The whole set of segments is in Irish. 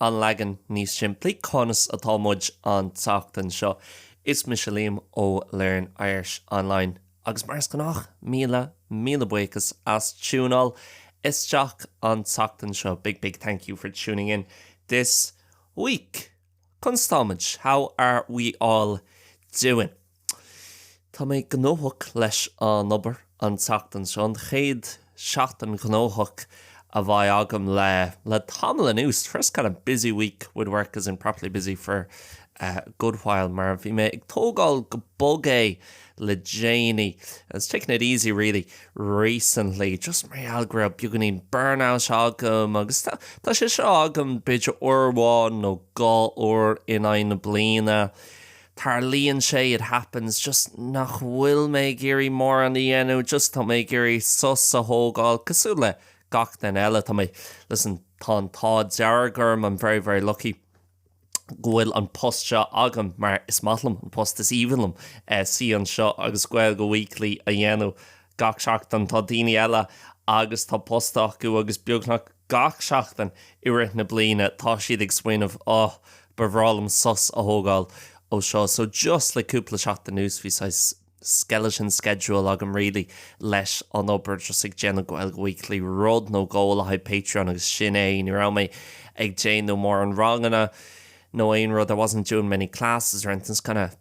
An leagan níos simplí, conas atá muid an tseachtain seo? Is mise Liam ó Learn Irish Online agus mar is gnách, míle, míle buíochas as tiúnáil isteach an tseachtain seo. Big, big thank you for tuning in this week. Conas tá muid? How are we all doing? Tá mé gnóthach leis an obair an tseachtain seo, an chéad seachtain ghnóthach a bheidh agam le tamall anuas, the first kind of busy week with work as in properly busy for a good while, mar bhí mé ag tógáil go bog é le déanaí, I was taking it easy really recently, just mar gheall go raibh beagáinín burnout agam agus tá sé seo agam b'fhéidir uair amháin nó dhá uair in aghaidh na bliana, Tarlaíonn sé, it happens, just nach bhfuil mé ag iarraidh mórán a dhéanamh, just tá mé ag iarraidh sos a thógáil cosúil le gach duine eile. Tá mé, listen, tá an t-ádh dearg orm, I'm very, very lucky, go bhfuil an post seo agam mar is maith liom an post, is aoibhinn liom suí anseo agus Gaeilge Weekly a dhéanamh gach seachtain. Tá daoine eile agus tá post acu agus beagnach, Gach seachtain i rith na bliana tá siad ag smaoineamh, oh, ba bhreá liom sos a thógáil ó seo. So just le cúpla seachtain anuas bhí saghas skeleton schedule agam really leis an obair, just ag déanamh Gaeilge Weekly rud nó dhó le haghaidh Patreon agus sin é. Ní raibh mé ag déanamh mórán ranganna nó aon rud, I wasn't doing many classes or anything, just kind of.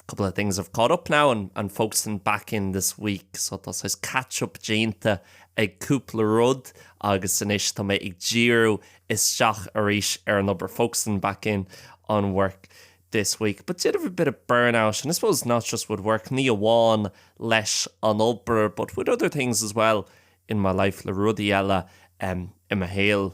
couple of things have caught up now and and folks in back in this week so tá saghas catch up déanta ag cúpla rud agus anois tá mé ag díriú isteach arís ar an obair folks in back in on work this week but did have a bit of burn out and I suppose not just with work ní amháin leis an obair but with other things as well in my life le rudaí eile um, i mo shaol.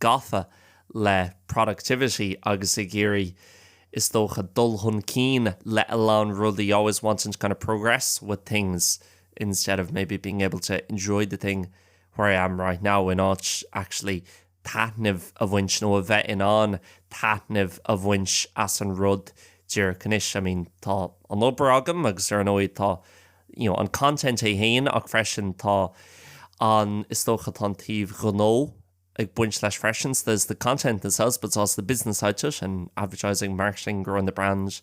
gafa le productivity agus ag iarraidh, is dócha, dul chun cinn le a lán rudaí, always wanting to kind of progress with things instead of maybe being able to enjoy the thing where I am right now, in áit actually taitneamh a bhaint nó a bheith in ann taitneamh a bhaint as an rud díreach anois. I mean, tá an obair agam agus ar ndóigh tá, you know, an content é féin ach freisin tá an, is dócha, tá an taobh gnó. ag baint leis freisin, so there's the content in itself but there's also the business side to it and advertising, marketing, growing the brand,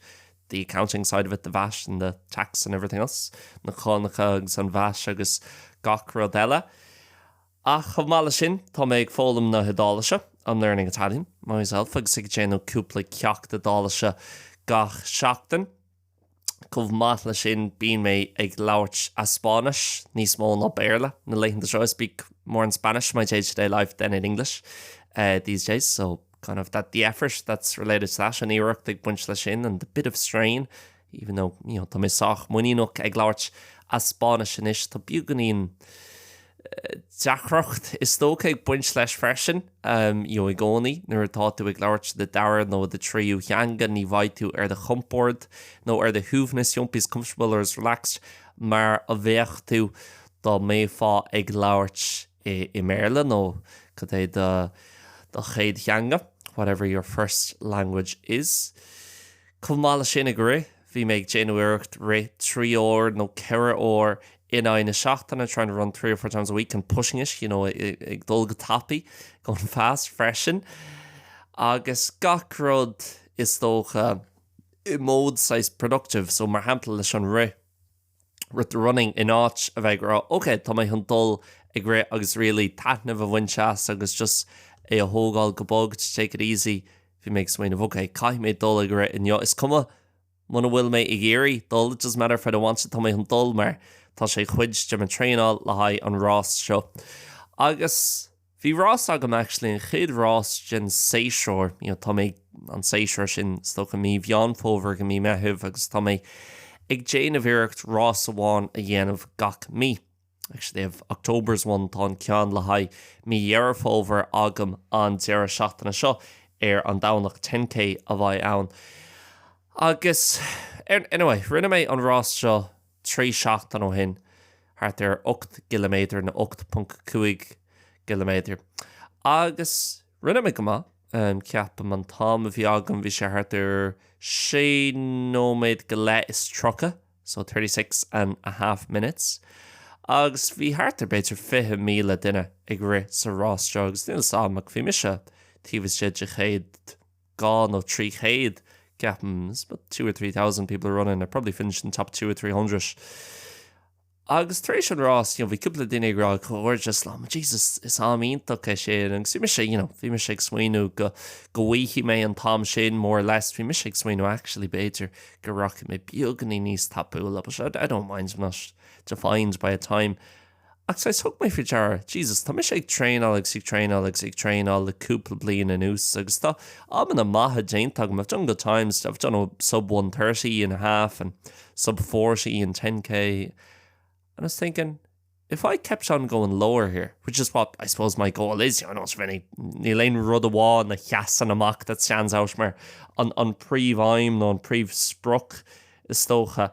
the accounting side of it, the VAT and the tax and everything else, na cánacha agus an bhais agus gach rud eile. Ach chomh maith leis sin, tá mé ag foghlaim na hIodáilise, I'm learning Italian myself agus ag déanamh cúpla ceacht Iodáilise gach seachtain. Chomh maith le sin bíonn mé ag labhairt i Spáinnis níos mó ná Béarla na laethanta seo, I speak more in Spanish in my day to day life than in English these days, so kind of that the effort that's related to that, an iarracht ag baint le sin and the bit of strain, even though you know tá mé sách muiníneach ag labhairt i Spáinnis anois, tá beagáinín. deacracht is dócha ag baint leis freisin, you know, i gcónaí nuair atá tú ag labhairt do dara nó do thríú theanga ní bheidh tú ar do chompord nó ar do shuaimhneas, you won't be as comfortable or as relaxed mar a bheadh tú dá mbeifeá ag labhairt i mBéarla nó cad é do chéad theanga, whatever your first language is. Chomh maith leis sin ag rith. Bhí mé ag déanamh iarracht rith trí uair nó ceithre uair in aghaidh na seachtaine, trying to run three or four times a week, and pushing it, you know, ag dul go tapaidh, going fast, freisin. Agus gach rud, is dócha, i mód saghas productive. So, mar shampla, leis an rith. with the running, in áit a bheith ag rá ok, tá mé chun dul ag rith agus really taitneamh a bhaint as agus just é a thógáil go bog, to take it easy. Bhí mé ag smaoineamh ok, caithfidh mé dul ag rith inniu, is cuma muna bhfuil mé ag iarraidh dul, it doesn't matter if I don't want to, tá mé chun dul mar tá sé chuid de mo traenáil le haghaidh an rás seo. Agus. Bhí rás agam actually, an chéad rás den séasúr, you know tá mé ag, an séasúr sin is dócha mí Mheán Fómhair go mí Meitheamh agus tá mé ag déanamh iarracht rás amháin a dhéanamh gach mí. Actually I have October's one, tá an ceann le haghaidh mí Dheireadh Fómhair agam an deireadh seachtaine seo ar an Domhnach, ten K a bheidh ann. Agus, anyway, rinne mé an rás seo. Trí sheachtain ó shin, thart ar 8 gciliméadar nó 8.5 gciliméadar. Agus rinne mé go maith, ceapaim. An t-am a bhí agam, bhí sé thart ar sé nóiméad go leith is tríocha, so thirty six and a half minutes. Agus bhí thart ar b'fhéidir 20,000 duine ag rith sa rás seo, agus níl 'fhios a'm ach bhí mise taobh istigh de chéad. dhá nó trí chéad, ceapaim, there's about two or three thousand people running, I probably finished in the top two or three hundred. Agus tar éis an rás, you know, bhí cúpla duine ag rá comhghairdeas liom, Jesus, is am iontach é sin, agus bhí mise, you know, bhí mise ag smaoineamh go, go bhfaighidh mé an t-am sin, more or less, bhí mise ag smaoineamh, actually, b'fhéidir go rachaidh mé beagainín níos tapúla, but I don't mind, I'm not defined by a time. Ach saghas, thug mé faoi deara, Jesus, tá mise ag traenáil agus ag traenáil agus ag traenáil le cúpla bliain anuas agus tá amanna maithe déanta agam, I've done good times, I've done a sub one thirty in a half and sub forty in ten K and I was thinking, if I kept on going lower here, which is what I suppose my goal is, you know, I don't have any, níl aon rud amháin a sheasann amach that stands out mar an, an príomh-aidhm nó an príomh-sprioc is dócha,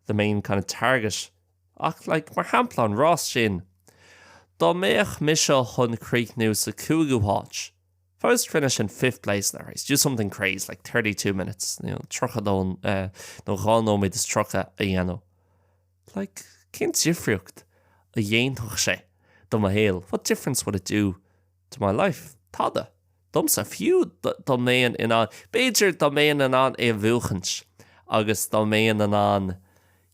the main kind of target. Ach, like, mar shampla an rás sin, dá mbeadh mise chun críochnú sa chúigiú háit, if I was to finish in fifth place in that race, do something crazy, like thirty two minutes, you know, tríocha a dó, nó dhá nóiméad is tríocha a dhéanamh, like, cén difríocht a dhéanfadh sé do mo shaol, what difference would it do to my life? Tada! domsa fiú, dá mbeinn in ann, b'fhéidir, dá mbeinn in ann é a bhuachaint agus dá mbeinn in ann,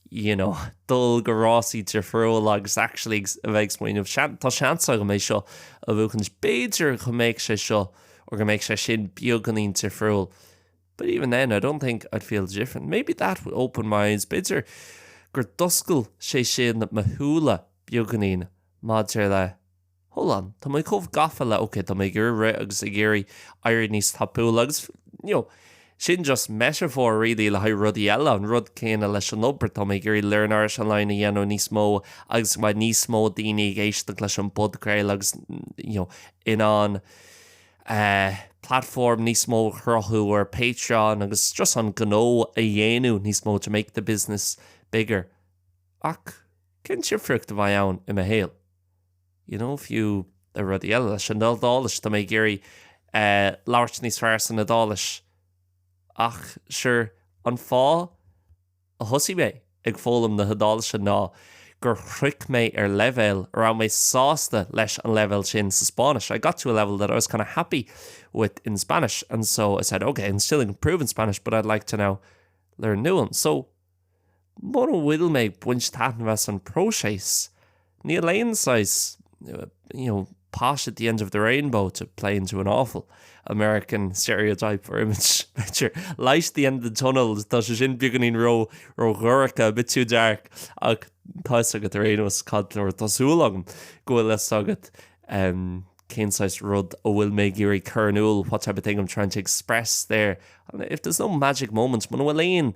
you know, dul go rásaí difriúla agus actually a bheith ag smaoineamh, seans, tá seans agam é seo a bhuachaint, b'fhéidir go mbeadh sé seo or go mbeadh sé sin beagáinín difriúil but even then I don't think I'd feel different. Maybe that would open my eyes, b'fhéidir gur d'oscail sé sin mo shúile beagáinín maidir le, Hold on, tá mé chomh gafa le, ok, tá mé ag iarraidh rith agus ag iarraidh éirí níos tapúla agus, you know, sin just metaphor really le haghaidh rudaí eile, an rud céanna leis an obair, tá mé ag iarraidh Learn Irish Online a dhéanamh níos mó agus go mbeidh níos mó daoine ag éisteacht leis an bpodchraoladh agus, you know, in ann eh platform níos mó a chruthú ar Patreon agus just an gnó a dhéanamh níos mó to make the business bigger. Ach cén difríocht a bheidh ann i mo shaol? you know, fiú le rudaí eile, leis an Iodáilis, tá mé ag iarraidh labhairt níos fearr san Iodáilis ach sure, an fáth a thosaigh mé ag foghlaim na hIodáilise ná gur shroich mé ar leibhéal a raibh mé sásta leis an leibhéal sin sa Spáinnis, I got to a level that I was kind of happy with in Spanish and so I said, ok, I'm still improving Spanish but I'd like to now learn a new one. So. Muna bhfuil mé ag baint taitneamh as an bpróiseas, níl aon saghas you know pot at the end of the rainbow to play into an awful American stereotype or image, b'fhéidir, light at the end of the tunnel, tá sé sin beagáinín ró-dhorcha, a bit too dark, ach tá fhios agat ar aon nós cad, or tá súil agam go bhfuil fhios agat em cén saghas rud a bhfuil mé ag iarraidh cur in iúl, what type of thing I'm trying to express there. If there's no magic moment, muna bhfuil aon.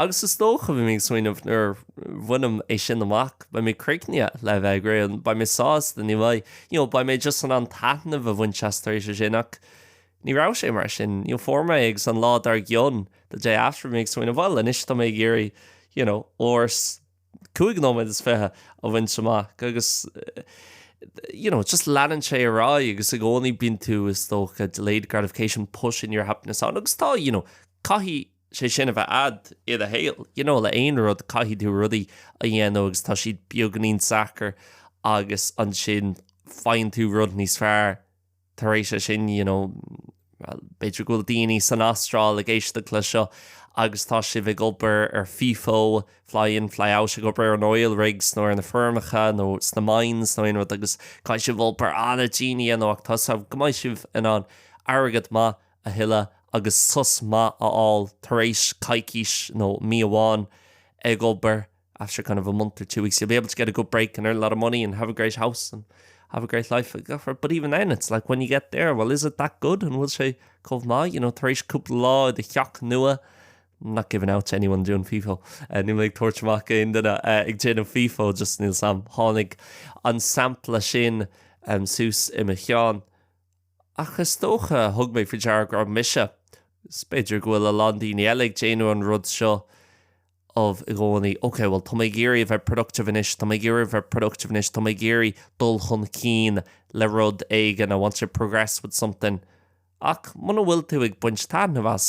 Agus is dócha, bhí mé ag smaoineamh, nuair a bhainim é sin amach, beidh mé críochnaithe le a bheith ag rith an, beidh mé sásta, ní bheidh, you know, beidh mé just in ann taitneamh a bhaint as tar éis é sin ach ní raibh sé mar sin. You know, fuair mé é agus an lá dár gcionn, the day after, bhí mé ag smaoineamh, bhuel, anois tá mé ag iarraidh, you know, uair 's cúig nóiméad is fiche a bhaint amach agus, you know, just leanann sé ar aghaidh agus i gcónaí bíonn tú, is dócha, delayed gratification, pushing your happiness on agus tá, you know, caithfidh, sé sin a bheith a'd ina shaol. You know, le aon rud, caithfidh tú rudaí a dhéanamh agus tá siad beagáinín deacair agus ansin faigheann tú rud níos fearr tar éis é sin, you know. Bhuel, b'fhéidir go bhfuil daoine san Astráil ag éisteacht le seo agus tá sibh ag obair ar fifo, fly in, fly out, ag obair ar an oil rigs nó ar na feirmeacha nó sna mines nó aon rud agus caithfidh sibh obair an-dian a dhéanamh ach tá 's agaibh go mbeidh sibh in ann airgead maith a a thuilleamh agus sos maith a fháil tar éis coicís nó mí amháin ag obair, after kind of a month or two weeks, you'll be able to get a good break and earn a lot of money and have a great house and have a great life. But even then, it's like, when you get there, well, is it that good? An bhfuil sé chomh maith? You know, tar éis cúpla lá i do theach nua, not giving out to anyone doing FIFO, níl mé ag tabhairt amach d'aon duine ag déanamh FIFO, just níl 's a'm, tháinig an sampla sin suas i mo cheann. Ach is dócha, thug mé faoi deara go raibh mise, 's b'fhéidir go bhfuil a lán daoine eile, ag déanamh an rud seo of i gcónaí, ok, bhuel, tá mé ag iarraidh a bheith productive anois, tá mé ag iarraidh a bheith productive anois, tá mé ag iarraidh dul chun cinn le rud éigin, I want to progress with something. Ach muna bhfuil tú ag baint taitneamh as,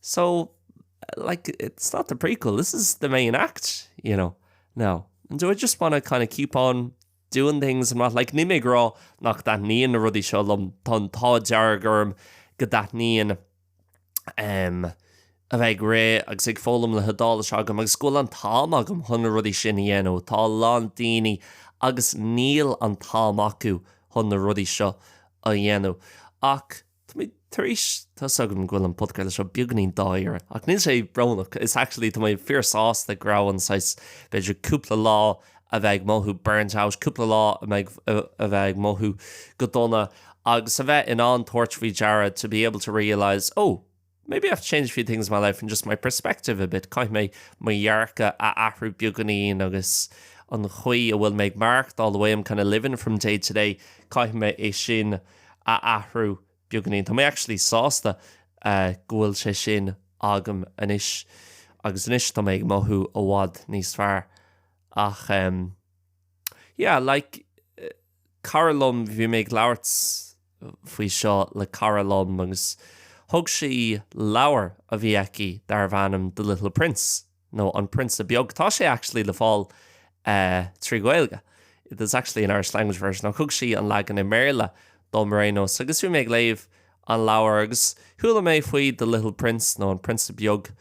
So, like, it's not the prequel, this is the main act, you know, no. And do I just want to kind of keep on doing things and what, like, níl mé ag rá nach dtaitníonn na rudaí seo liom, tá an t-ádh dearg orm go dtaitníonn ehm a bheith ag rith agus ag foghlaim na hIodáilise agam agus go bhfuil an t-am agam chun na rudaí sin a dhéanamh, tá a lán daoine agus níl an t-am acu chun na rudaí seo a dhéanamh. Ach. Tá mé tar éis, tá 's agam go bhfuil an podchraoladh seo beagáinín dáiríre, ach níl sé brónach, it's actually tá mé fíorshásta go raibh an saghas, b'fhéidir cúpla lá a bheith ag mothú burnt out, cúpla lá a bheith ag mothú go dona agus a bheith in ann tabhairt faoi deara to be able to realise, oh, Maybe I have to change a few things in my life and just my perspective a bit, caithfidh mé mo dhearcadh a athrú beagáinín agus an chaoi a bhfuil mé ag maireachtáil, the way I'm kind of living from day to day, caithfidh mé é sin a athrú beagáinín. Tá mé actually sásta go bhfuil sé sin agam anois, agus anois tá mé ag mothú i bhfad níos fearr. Ach yeah, like, cara liom, bhí mé ag labhairt, faoi seo le cara liom agus thug sí leabhar a bhí aici darbh ainm The Little Prince nó An Prionsa Beag. Tá sé actually le fáil trí Ghaeilge, there's actually an Irish language version, ach thug sí an leagan i mBéarla dom ar aon nós. Agus bhí mé ag léamh an leabhar agus chuala mé faoi The Little Prince nó An Prionsa Beag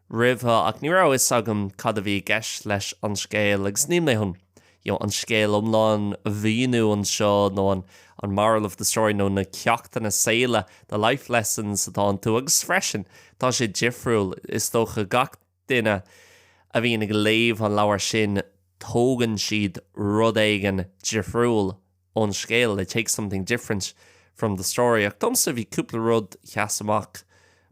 roimhe, ach ní raibh fhios agam cad a bhí i gceist leis an scéal, agus níl mé chun, you know, an scéal iomlán a mhíniú anseo, nó an an moral of the story, nó na ceachtanna saoil, the life lessons atá iontu, agus freisin, tá sé difriúil, is dócha, gach duine a bhíonn ag léamh an leabhair sin, tógann siad rud éigin difriúil ón scéal, they take something different from the story, ach domsa, bhí cúpla rud a sheas amach,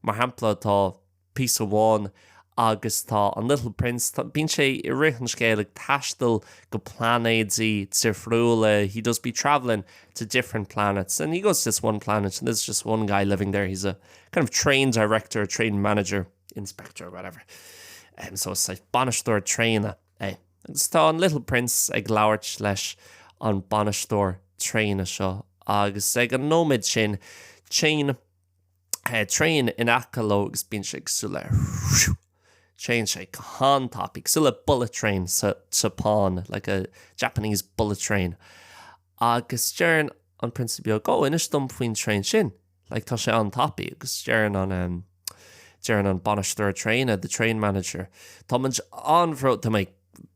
mar shampla, tá. píosa amháin agus tá an Little Prince, tá, bíonn sé i rith an scéil ag taisteal go plainéidí difriúla, he does be travelling to different planets and he goes to this one planet and there's just one guy living there, he's a kind of train director, train manager, inspector or whatever. Um, so it's like bainisteoir tréine é. Agus tá an Little Prince ag labhairt leis an bainisteoir traenach seo agus ag an nóiméad sin téann traein in aice leo agus bíonn sé cosúil le train, téann sé go han-tapaidh, cosúil le bullet train sa tSeapáin, like a Japanese bullet train. Agus deireann an prionsa beag, oh, inis dom faoin traein sin, like tá sé an-tapaidh. Agus deireann an em deireann an bainisteoir traenach, the train manager, tá muid an-bhródúil, tá mé ag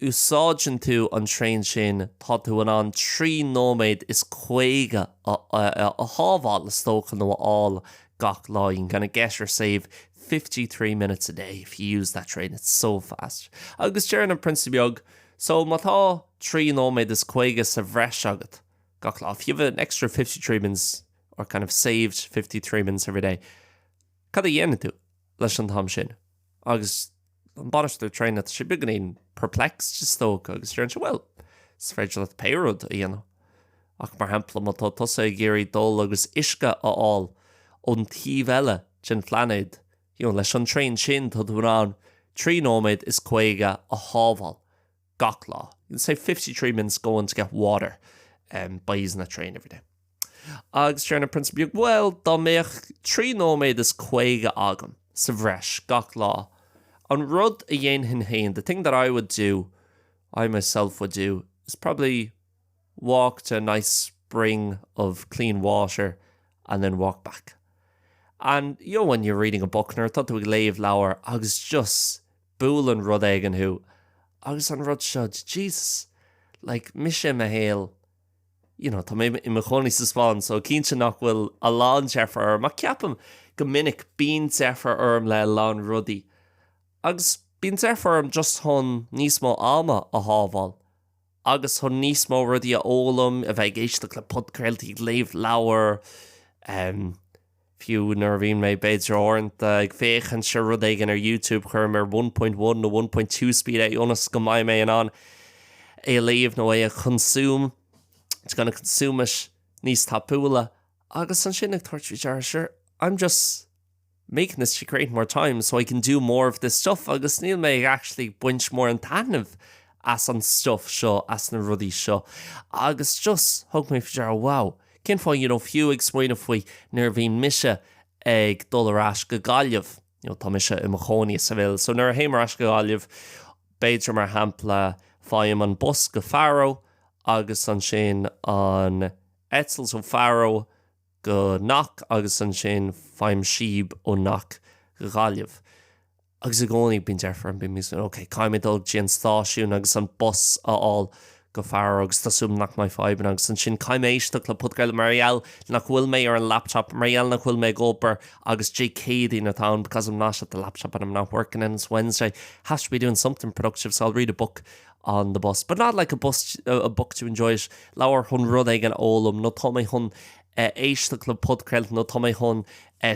úsáideann tú an traein sin tá tú in ann trí nóiméad is caoga a shábháil, is dócha, nó a fháil gach lá, you can kinda get or save fifty three minutes a day if you use that train, it's so fast. Agus deireann an prionsa beag, so má tá trí nóiméad is caoga sa bhreis agat gach lá, if you have an extra fifty three minutes or kind of saved fifty three minutes every day, cad a dhéanann tú leis an t-am sin? Agus. an bainisteoir traein tá sé beagáinín perplexed is dócha agus deireann sé bhuel, is féidir leat pé rud a dhéanamh ach mar shampla má tá tusa ag iarraidh dul agus uisce a fháil ón taobh eile den phlainéad you know leis an traein sin tá tú in ann trí nóiméad is caoga a shábháil gach lá. You can save fifty three minutes going to get water um by using that train every day. Agus deireann an prionsa beag, bhuel, dá mbeadh trí nóiméad is caoga agam sa bhreis gach lá, an rud a dhéanfainn féin, the thing that I would do, I myself would do, is probably walk to a nice spring of clean water and then walk back. And, you know when you're reading a book, nuair atá tú ag léamh leabhar agus just Buaileann rud éigin thú agus an rud seo, Jesus, like, mise i mo shaol, you know, tá mé i mo chónaí sa Spáinn so cinnte nach bhfuil a lán deifre orm ach ceapaim go minic bíonn deifre orm le a lán rudaí agus bíonn deifre orm just chun níos mó ama a shábháil agus chun níos mó rudaí a fhoghlaim, a bheith ag éisteacht le podchraoltaí, ag léamh leabhar, em. Fiú nuair a bhíonn mé, b'fhéidir, uaireanta ag féachaint ar rud éigin ar YouTube, cuirim ar one point one ó one point two speed é ionas go mbeidh mé in ann é a léamh nó é a consume, to kinda consume it, níos tapúla. Agus ansin ag tabhairt faoi deara, sure, I'm just making this to create more time so I can do more of this stuff agus níl mé ag actually baint mórán taitnimh as an stuff seo, as na rudaí seo agus just thug mé faoi deara, wow, cén fáth, you know, fiú ag smaoineamh faoi nuair a bhíonn mise ag dul ar ais go Gaillimh, you know, tá mise i mo chónaí i Seville, so nuair a théim ar ais go Gaillimh, b'fhéidir, mar shampla, faighim an bus go Faro agus ansin an eitilt ó Faro go Knock agus ansin faighim síob ó Knock go Gaillimh. Agus i gcónaí bíonn deifir orm, bím ag smaoineamh, ok, caithfidh mé dul go dtí an stáisiún agus an bus a fháil go Faro agus tá súil agam nach mbeidh fadhbanna agus ansin caithfidh mé éisteacht le podchraoladh mar gheall nach bhfuil mé ar an laptop, mar gheall nach bhfuil mé ag obair agus Dé Céadaoin atá ann because I'm not at the laptop and I'm not working and it's Wednesday, have to be doing something productive so I'll read a book. on the bus, but not like a bus, a book to enjoy it leabhar chun rud éigin a fhoghlaim nó tá mé chun éisteacht le podchraoladh nó tá mé chun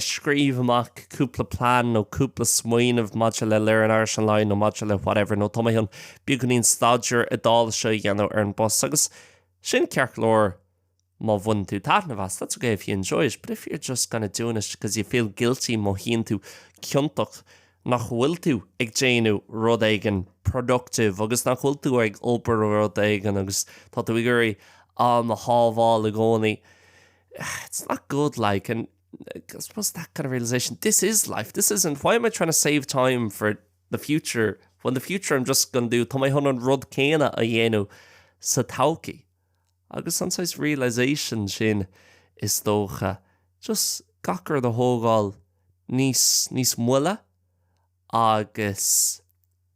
scríobh amach cúpla plean nó cúpla smaoineamh maidir le Learn Irish Online nó maidir le whatever nó tá mé chun beagáinín staidéir Iodáilise a dhéanamh ar an bus agus sin ceart go leor Má bhaineann tú taitneamh as, that's okay if you enjoy it, but if you're just kinda doing it because you feel guilty, mothaíonn tú ciontach nach bhfuil tú ag déanamh rud éigin productive agus nach bhfuil tú ag obair ar rud éigin agus tá tú ag iarraidh am a shábháil i gcónaí, it's not good like and I suppose that kind of realisation, this is life, this isn't, why am I trying to save time for the future when the future I'm just gon do, tá mé chun an rud céanna a dhéanamh sa todhchaí. Agus an saghas realisation sin, is dócha, just gach rud a thógáil níos, níos moille agus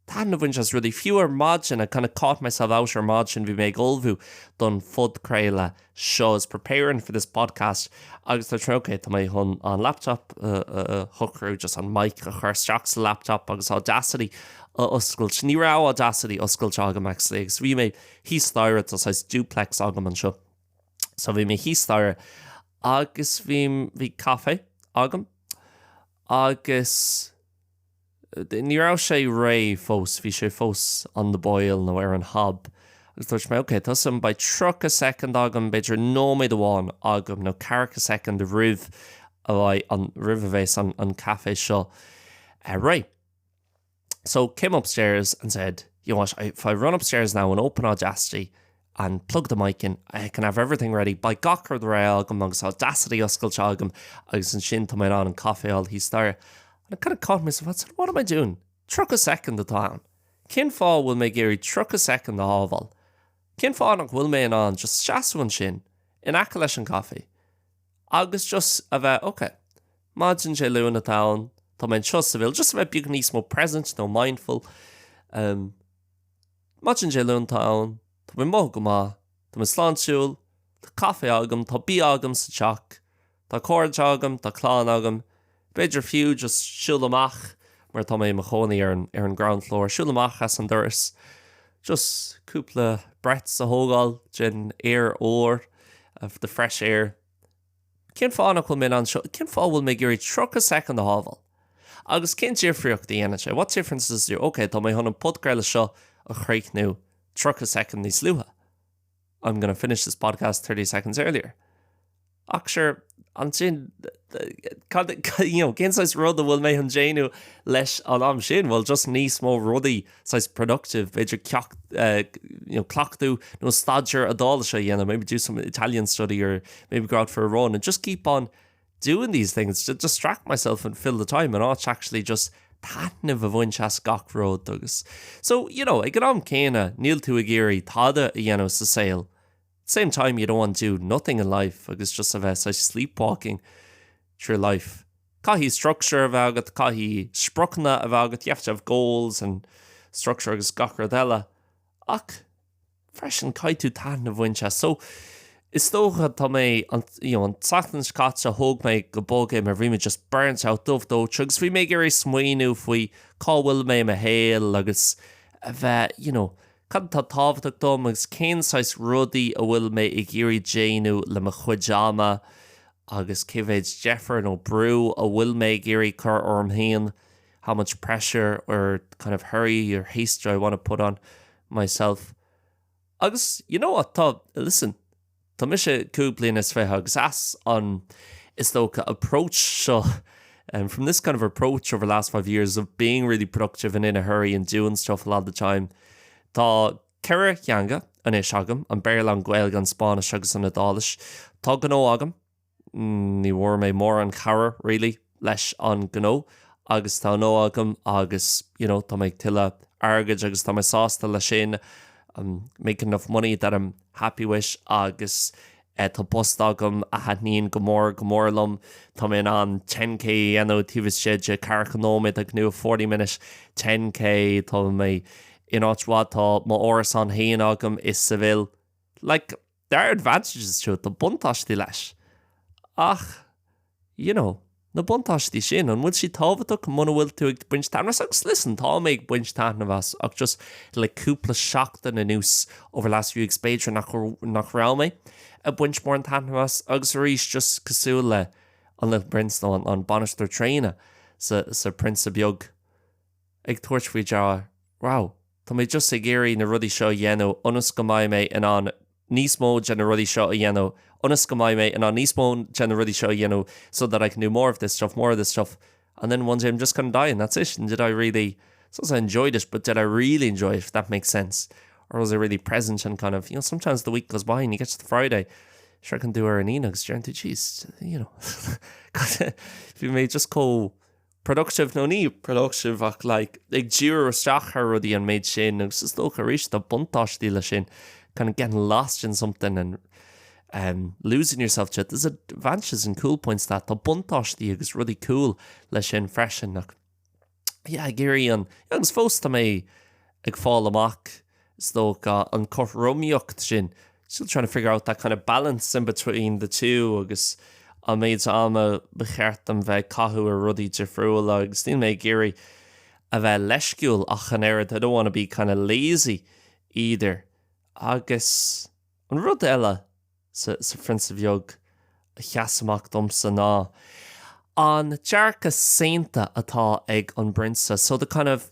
taitneamh a bhaint as rudaí. Fiú ar maidin, I kind of caught myself out ar maidin, bhí mé ag ullmhú don phodchraoladh seo, I was preparing for this podcast agus dúirt mé ok, tá mé chun an laptop a shocrú, just an mic a chur isteach sa laptop agus Audacity a oscailt. Ní raibh Audacity oscailte agam actually agus bhí mé. thíos staighre, tá saghas duplex agam anseo so bhí mé thíos staighre agus bhí, bhí caife agam agus ní raibh sé réidh fós, bhí sé fós on the boil nó ar an hob agus dúirt mé ok, tá's agam, beidh tríocha soicind agam, b'fhéidir nóiméad amháin agam nó ceathracha soicind roimh a bheidh an, roimh a bheas an caife seo réidh. So, came upstairs and said, you know what, if I run upstairs now and open Audacity and plug the mic in, I can have everything ready beidh gach rud réidh agam agus Audacity oscailte agam agus ansin tá mé in ann an caife a fháil thíos staighre. And I kind of caught myself, I said, what am I doing? 30 soicind atá ann. Cén fáth a bhfuil mé ag iarraidh 30 soicind a shábháil? Cén fáth nach bhfuil mé in ann just seasamh ansin, in aice leis an gcaife? Agus just a bheith ok. Maidin Dé Luain atá ann, tá mé anseo i Seville, just a bheith beag níos mó present nó mindful. Maidin Dé Luain atá ann, tá mé ag mothú go maith, tá mé sláintiúil, tá caife agam, tá bia agam sa teach, tá cairde agam, tá clann agam. B'fhéidir fiú just siúl amach, mar tá mé i mo chónaí ar an, ar an ground floor, siúl amach as an doras, just cúpla breaths a thógáil den aer úr, of the fresh air. Cén fáth nach bhfuil mé anseo, cén fáth a bhfuil mé ag iarraidh 30 soicind a shábháil? Agus cén difríocht a dhéanann sé? What difference does it do? OK, tá mé chun an podchraoladh seo a chríochnú 30 soicind níos luaithe. I'm gonna finish this podcast thirty seconds earlier. Ach sure, ansin, cad, you know, cén saghas rudaí a bhfuil mé ag déanamh leis an am sin? Well, just níos mó rudaí saghas productive, b'fhéidir ceacht, uh, you know, cleachtadh nó staidéar Iodáilise a dhéanamh, maybe do some Italian study or maybe go out for a run and just keep on doing these things to distract myself and fill the time and not actually just taitneamh a bhaint as gach rud agus so you know ag an am céanna níl tú ag iarraidh tada a dhéanamh sa saol at the same time you don't want to do nothing in life agus just a bheith saghas sleepwalking through life. Caithfidh structure a bheith agat, caithfidh spriocanna a bheith agat, you have to have goals and structure agus gach rud eile ach freisin, caithfidh tú taitneamh a bhaint as. So, is dócha, tá mé, an, you know, an tseachtain seo caite, thóg mé go bog é mar bhí mé just burnt out, dubh dóite agus bhí mé ag iarraidh smaoineamh faoi cá bhfuil mé i mo shaol agus a bheith, you know, cad atá tábhachtach dom agus cén saghas rudaí a bhfuil mé ag iarraidh déanamh le mo chuid ama agus cé mhéid deifir nó brú a bhfuil mé ag iarraidh cur orm féin. how much pressure or kind of hurry or haste do I want to put on myself? Agus you know what, tá, listen, tá mise cúig bliana is fiche agus as an, is dócha, approach seo, um, from this kind of approach over the last five years of being really productive and in a hurry and doing stuff a lot of the time, tá ceithre theanga anois agam, an Béarla, an Ghaeilge, an Spáinnis agus an Iodáilis. Tá gnó agam. ní bhfuair mé mórán cabhair really leis an gnó agus tá gnó agam agus you know tá mé ag tuilleadh airgid agus tá mé sásta leis sin I'm making enough money that I'm happy with agus eh tá post agam a thaitníonn go mór go mór liom tá mé in ann 10K a dhéanamh taobh istigh de ceathracha nóiméad I can do a forty minute 10K tá mé in áit mhaith tá m'árasán féin agam i Seville like There are advantages to it, tá buntáistí leis. Ach, you know, na buntáistí sin, an bhfuil siad tábhachtach muna bhfuil tú ag baint taitneamh as? Agus listen, tá mé ag baint taitneamh as, ach just le cúpla seachtain anuas, over the last few weeks, b'fhéidir nach, nach raibh mé ag baint mórán taitneamh as. Agus arís, just cosúil le an Little Prince nó an, an Bainisteoir Traenach sa, sa Prionsa Beag, ag tabhairt faoi deara, wow, tá mé just ag iarraidh na rudaí seo a dhéanamh ionas go mbeidh mé in ann níos mó de na rudaí seo a dhéanamh, ionas go mbeidh mé in ann níos mó de na rudaí seo a dhéanamh so that I can do more of this stuff, more of this stuff and then one day I'm just going to die and that's it and did I really, it's not as I enjoyed it but did I really enjoy it, if that makes sense, or was I really present and kind of, you know, sometimes the week goes by and you get to the Friday, sroicheann tú an Aoine agus déann tú, jeez, you know, bhí mé just chomh, productive nó ní productive ach like ag díriú isteach ar rudaí an méid sin agus is dócha arís tá buntáistí leis sin kind of getting lost in something and um losing yourself to it. There's advantages and cool points to that, tá buntáistí agus rudaí cool leis sin freisin ach yeah ag iarraidh an agus fós tá mé ag fáil amach Is dócha an cothromaíocht sin, still trying to figure out that kind of balance in between the two agus an méid ama ba cheart dom bheith ag caitheamh ar rudaí difriúla agus níl mé ag iarraidh a bheith leisciúil ach an oiread, I don't want to be kind of lazy either. Agus an rud eile sa Phrionsa Bheag a sheas amach domsa ná an dearcadh saonta atá ag an bPrionsa, so the kind of.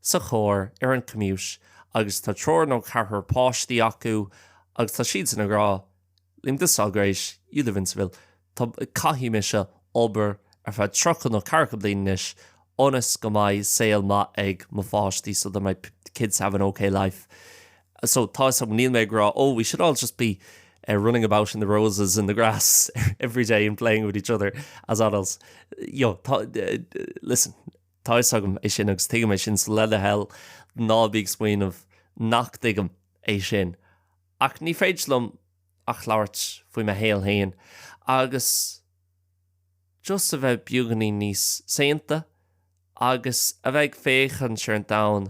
sa chóir ar an gcampas agus tá triúr nó ceathrar páistí acu agus tá siadsan ag rá linn Jesus Christ, you live in Seville, tá, caithfidh mise obair ar feadh tríocha nó ceathracha bliain anois ionas go mbeidh saol maith ag mo pháistí, so that my kids have an ok life. So tá fhios agam, níl mé ag rá oh we should all just be running about in the roses in the grass every day and playing with each other as adults, you know, tá, listen. Tá fhios agam é sin agus tuigim é sin so le do thoil ná bí ag smaoineamh nach dtuigim é sin ach ní féidir liom ach labhairt faoi mo shaol féin agus just a bheith beagáinín níos saonta agus a bheith ag féachaint ar an domhan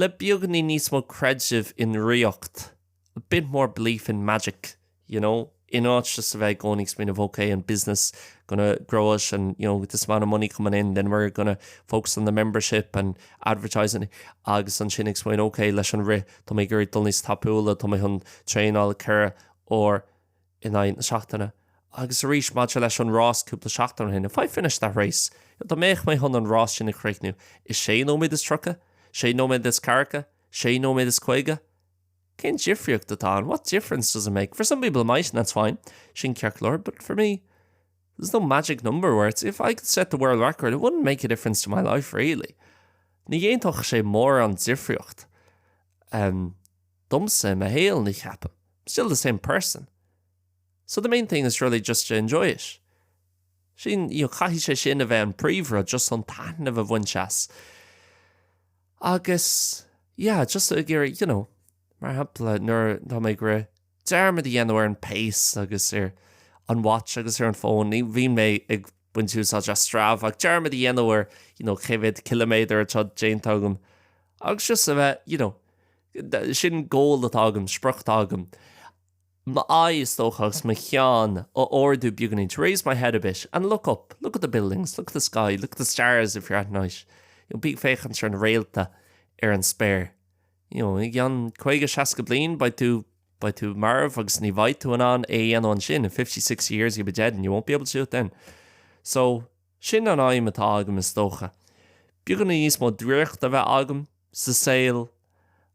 le beagáinín níos mó creidimh i ndraíocht. a bit more belief in magic, you know, in áit just a bheith i gcónaí ag smaoineamh ok, an business, gonna grow it and, you know, with this amount of money coming in, then we're gonna focus on the membership and advertising agus ansin ag smaoineamh ok, leis an rith, tá mé ag iarraidh dul níos tapúla, tá mé chun traenáil ceithre uair in aghaidh na seachtaine. Agus arís maidir leis an rás cúpla seachtain ó shin, if I finished that race, dá mbeadh mé chun an rás sin a chríochnú i sé nóiméad is tríocha, sé nóiméad is ceathracha, sé nóiméad is caoga? Cén difríocht atá ann? What difference does it make? For some people it might and that's fine, sin ceartlár, but for me, there's no magic number where it's if I could set the world record, it wouldn't make a difference to my life really. Ní dhéanfadh sé mórán difríocht um, domsa i mo shaol, ní cheapaim. I'm still the same person. So the main thing is really just to enjoy it. Sin, you know, caithfidh sé sin a bheith an príomhra, just an taithneamh a bhaint as. Agus, yeah, just ag iarraidh, you know, mar shampla, nuair, tá mé ag rith, dearmad a dhéanamh ar an bpace agus ar an watch agus ar an fón, ní, bhíonn mé ag baint úsáid as Strava, ach dearmad a dhéanamh ar, you know, cé mhéad ciliméadar atá déanta agam. Agus just a bheith, you know, sin goal atá agam, sprioc atá agam. m'aghaidh, is dócha, agus mo cheann a ardú beagainín to raise my head a bit and look up, look at the buildings, look at the sky, look at the stars if you're at night, you know, bí ag féachaint ar na réalta, ar an spéir. You know, i gceann caoga, seasca bliain, beidh tú, beidh tú marbh agus ní bheidh tú in ann é a dhéanamh ansin, in fifty, sixty years you'll be dead and you won't be able to do it then. So, sin an aidhm atá agam, is dócha. Beagainín níos mó draíochta a bheith agam sa saol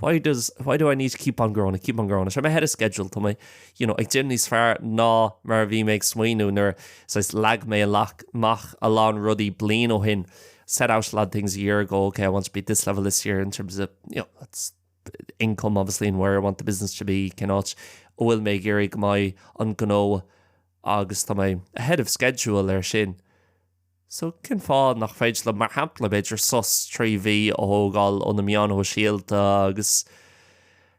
Why does, why do I need to keep on growing, I keep on growing. Is I'm ahead of schedule, tá mé, you know, ag déanamh níos fearr ná mar a bhí mé ag smaoineamh nuair a leag mé amach a lán rudaí bliain ó shin. Set out a lot of things a year ago, okay, I want to be at this level this year in terms of, you know, that's income obviously and where I want the business to be, cén áit a bhfuil mé ag iarraidh go mbeidh an gnó agus tá mé ahead of schedule ar sin. So, cén fáth nach féidir liom, mar shampla, b'fhéidir sos trí mhí a thógáil ó na meáin shóisialta agus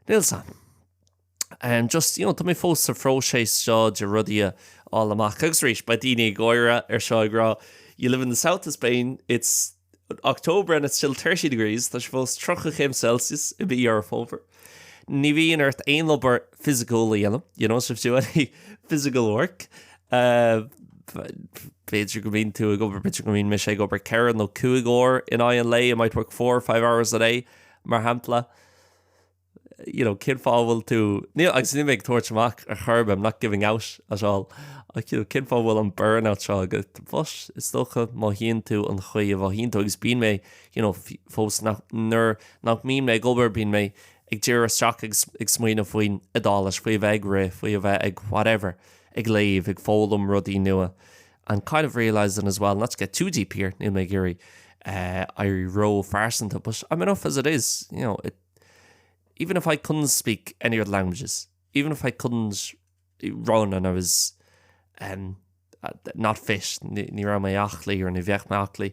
níl sa, em, just, you know, tá mé fós sa phróiseas seo de rudaí a fháil amach agus arís, beidh daoine ag gáire faoi seo ag rá you live in the south of Spain, it's October and it's still thirty degrees, tá sé fós tríocha céim Celsius i mí Dheireadh Fómhair. Ní bhíonn ort aon obair fhisiciúil a dhéanamh, you don't have to do any physical work. B'fhéidir go mbíonn tú ag obair, b'fhéidir go mbíonn mise ag obair ceithre nó cúig uair in aghaidh an lae, I might work four or five hours a day, mar shampla. You know, cén fáth a bhfuil tú, níl, agus níl mé ag tabhairt amach ar chor ar bith, I'm not giving out at all, ach you know, cén fáth a bhfuil an burnout seo agat? Bhuel, is dócha mothaíonn tú an chaoi a mhothaíonn tú, agus bíonn mé, you know, fós nach, nuair nach mbíonn mé ag obair bíonn mé ag díriú isteach ag, ag smaoineamh faoin Iodáilis, faoi a bheith ag rith, faoi a bheith ag whatever, ag léamh, ag foghlaim rudaí nua and kind of realising as well, not to get too deep here, níl mé ag iarraidh eh, éirí ró-phearsanta but I'm enough as it is, you know, it, even if I couldn't speak any other languages, even if I couldn't run and I was um, not fit, ní raibh mé aclaí or ní bheadh mé aclaí,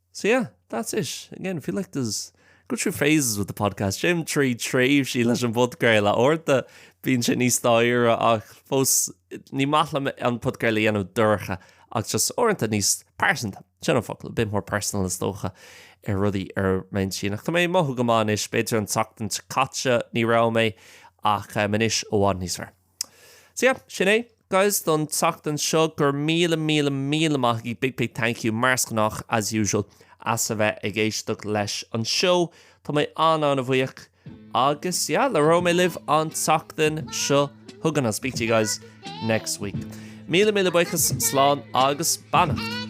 So yeah, that's it. Again, I feel like I go through phases with the podcast, téim trí thréimhsí leis an bpodcraol. Uaireanta, bíonn sé níos dorcha ach fós ní maith liom an podcraol a dhéanamh dorcha ach just uaireanta níos pearsanta. Sin an focal, a bit more personal is dócha ar rudaí ar m'intinn. Ach tá mé ag mothú go maith anois, b'fhéidir an tseachtain seo caite ní raibh mé ach anois i bhfad níos fearr. So yeah, sin é. guys, don tseachtain seo. Go raibh míle, míle, míle maith agaibh, big, big thank you, mar is gnách, as usual, as a bheith ag éisteacht leis an seó. Tá mé an-an-bhuíoch. Agus yeah, labhróidh mé libh an tseachtain seo chugainn. I'll speak to you guys next week. Míle, míle buíochas, slán agus beannacht.